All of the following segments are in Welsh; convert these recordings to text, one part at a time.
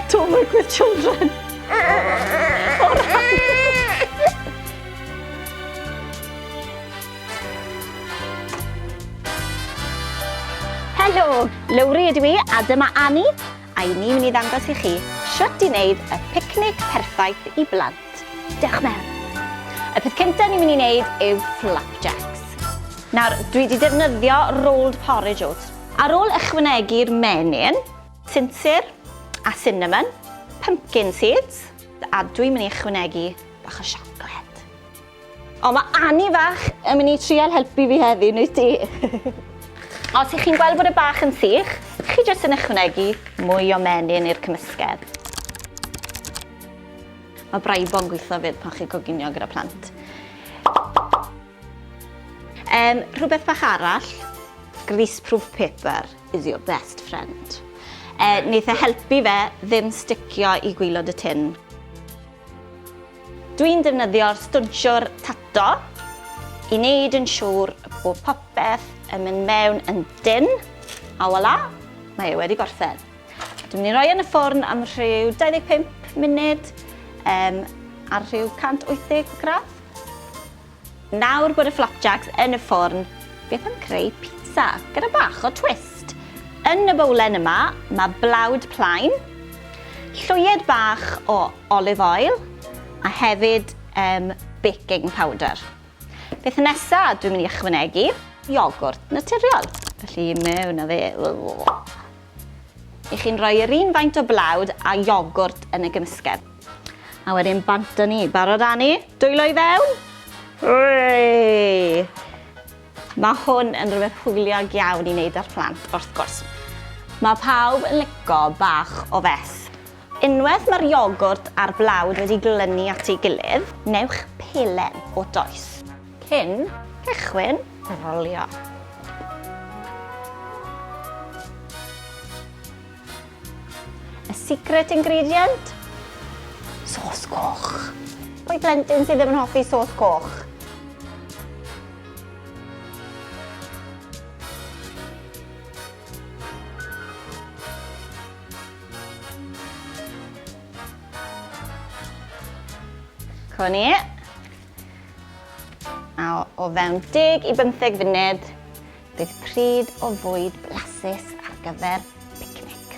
Don't work with children. Helo, Lowri ydw i a dyma Annie a i ni'n mynd i ddangos i chi sut i wneud y picnic perffaith i blant. Diolch Mew. Y peth cyntaf ni'n mynd i wneud yw flapjacks. Nawr, dwi wedi defnyddio rolled porridge oats. Ar ôl ychwanegu'r menyn, sinsir a cinnamon, pumpkin seeds, a dwi'n mynd i ychwanegu bach o siocled. O, mae Annie fach yn mynd i trial helpu fi heddi, neu ti. Os ych chi'n gweld bod y bach yn sych, chi jyst yn ychwanegu mwy o menyn i'r cymysgedd. Mae Braibo yn gweithio fyd pan chi'n coginio gyda plant. Um, rhywbeth bach arall, greaseproof paper is your best friend. Uh, wneud e helpu fe ddim sticio i gwylod y tin. Dwi'n defnyddio'r stwnsiwr tato i wneud yn siŵr bod popeth yn mynd mewn yn dyn. A wala, mae e wedi gorffen. Dwi'n mynd i roi yn y ffwrn am rhyw 25 munud um, ar rhyw 180 gradd. Nawr bod y flapjacks yn y ffwrn, beth am creu pizza gyda bach o twist? Yn y bowlen yma, mae blawd plaen, llwyed bach o olive oil a hefyd um, baking powder. Beth nesaf dwi'n mynd i ychwanegu? Iogwrt naturiol. Felly mewn a fe. I chi'n rhoi yr un faint o blawd a iogwrt yn y gymysgedd. A wedyn bant â ni. Barod â ni? Dwylo i fewn? Hwrei! Mae hwn yn rhywbeth hwyliog iawn i wneud â'r plant, wrth gwrs. Mae pawb yn lico bach o fess. Unwaith mae'r iogwrt a'r blawd wedi glynu at ei gilydd, newch pelen o does. Cyn cychwyn rolio. Y secret ingredient? Sos coch. Pwy blentyn sydd ddim yn hoffi sos coch? Co ni. A o fewn 10 i 15 funud, bydd pryd o fwyd blasus ar gyfer picnic.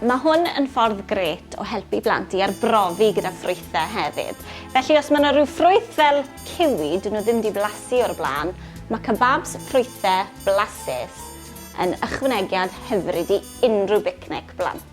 Mae hwn yn ffordd gret o helpu blant i arbrofi gyda ffrwythau hefyd. Felly os mae yna rhyw ffrwyth fel ciwi, dyn nhw ddim wedi blasu o'r blaen, mae kebabs ffrwythau blasus yn ychwanegiad hyfryd i unrhyw bicnic blant.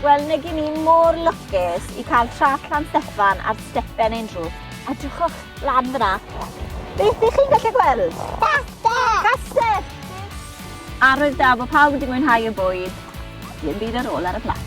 Wel, nag i ni mor lwcus i cael trac Llan Steffan ar stepen ein drws. Edrychwch lan fyna. Beth ych chi'n gallu gweld? Castell! Castell! Arwydd da bod pawb wedi mwynhau y bwyd. Dim byd ar ôl ar y plat.